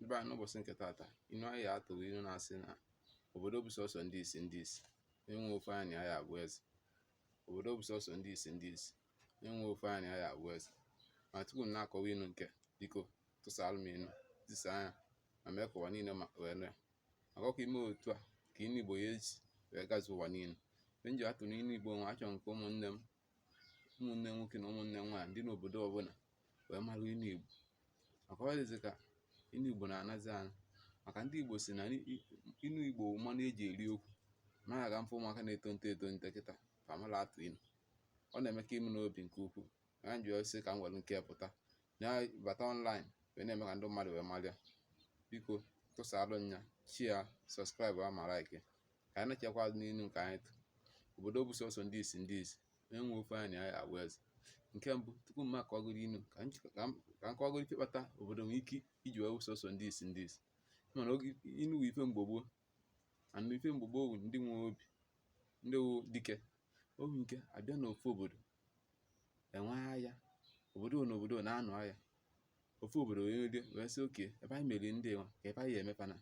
ebe a n'ụbọchị nke taata inu anyị ya-atụ bụ inu na-asị na obodo bụ sọsọ ndị isi ndị isi onye ofu anya na ya abụ eze obodo bụ sọsọ ndị isi ndị isi onye ofu anya na ya abụ eze ma tupu m na-akọwa inu nke biko tụsara m inu tisa ya ma mee ka ụwa niile ma wee nụ ya maka ọ bụ ime otu a ka inu igbo ya eji wee gazuo ụwa niile mgbe m ji atụrụ inu igbo nwa achọrọ m ka ụmụnne m ụmụnne nwoke na ụmụnne nwaanyị ndị n'obodo ọbụla wee mara inu Igbo maka ọ dịzị ka inu Igbo na-anazi ana maka ndị Igbo si na inu Igbo mmanụ eji eri okwu ma aga mfe ụmụaka na-etonite etonite kịta amarọ atụ inu ọ na-eme ka ime n'obi nke ukwuu ya ji sị ka m were nke pụta na bata online wee na-eme ka ndị mmadụ wee mara ya biko tụsaalụ ya share subscribe ma like ka anyị nachakwa azụ n'inu nke anyị tụ obodo bụ sọsọ ndị isi ndị isi onye ofu anya na ya abụ eze nke mbụ tupu m akọgụrụ inu ka m kọgụrụ ife kpata obodo nwere ike iji wee bụ sọsọ ndị isi ndị isi mana oge inu bụ ife mgbe gboo and ife mgbe gboo ndị nwe obi ndị wụ dike obi nke abịa n'ofu obodo enwe agha obodo na obodo na-anụ agha ofu obodo wee merie wee sị okay ebe anyị meriri ndị nwa ka ebe anyị ya emepana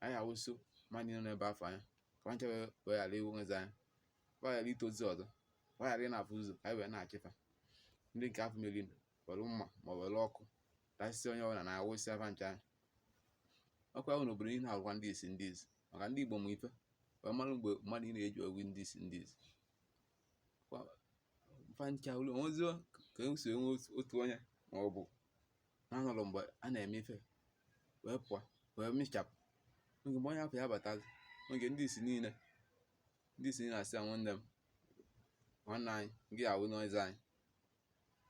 anyị awụso mmadụ nọ n'ebe afọ anya ka ncha wee ghara inwezi anya ka fa ghara itozi ọzọ ka fa ghara ịna-afụ ụzọ ka anyị wee na-achị fa ndị nke afụ meri were mma ma were ọkụ tasịsị onye ọbụla na-awụsị fa ncha anya ọkwa ahụ n'obodo niile na-agwa ndị isi ndị isi maka ndị Igbo ma ife wee mara mgbe mmadụ niile ji awụ ndị isi ndị isi fa ncha olu onweziọ ka e si enwe otu onye ma ọ bụ na-anọrọ mgbe a na-eme ife nwa pụọ wee mechapụ oge mgbe onye afụ ya batazi oge ndị isi niile ndị isi niile asị ya nwanne m nwanne anyị gị awụ n'ọzọ anyị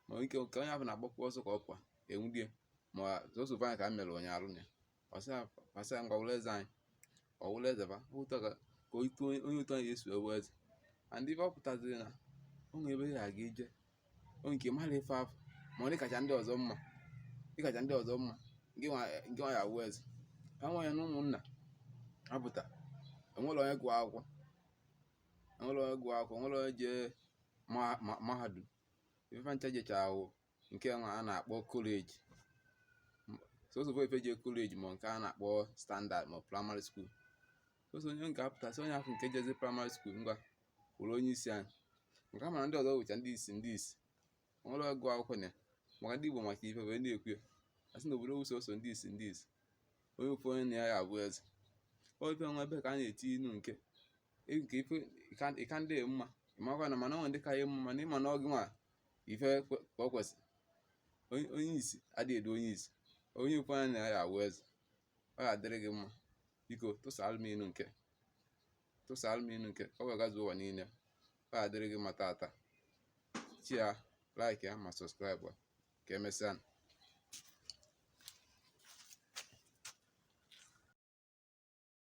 ma ike ka onye afụ na-agbakwa ọsọ ka ọ pụọ enwude ya ma sọsọ ofu anya ka e merụrụ ya arụ na ya a sị ya ngwa wụrụ eze anyị ọ wụrụ eze bụ otu a ka onye otu anya esi awụ eze and ife ọ pụtaziri na o nwere ebe ị ga-eje onye nke mara ife afụ ma ọ dịkacha ndị ọzọ mma dịkacha ndị ọzọ mma nke nwa ya awụ eze ka nwa ya na ụmụnna apụta enwere onye gụọ akwụkwọ enwere onye gụọ akwụkwọ enwere onye jee mahadum ife fa ncha jechara awụ nke nwa a na-akpọ college sọsọ bụ ife je college ma nke a na-akpọ standard ma primary school sọsọ onye nke apụta a sị onye afụ nke jezi primary school ngwa wụrụ onye isi anyị nke a mana ndị ọzọ wụcha ndị isi ndị isi nwere ọgụ akwụkwọ na maka ndị Igbo maka ife wee na-ekwu ya asị na obodo wụ sọsọ ndị isi ndị isi onye ofu anya na ya ya abụ eze ọ ife nwa ebe ka a na-eti inu nke nke ife ịka ndị mma ịmakwa na mana ọ ndị ka ya mma mana ịma na ọ gị nwa ife ka ọ kwesịrị onye isi adịghị edu onye isi onye ofu anya na ya awụ eze ọ ga-adịrị gị mma biko tụsaalụ m inu nke tụsaalụ m inu nke ọ wee gazuo ụwa niile ọ ga-adịrị gị mma tata share like ya ma subscribe ka emesịa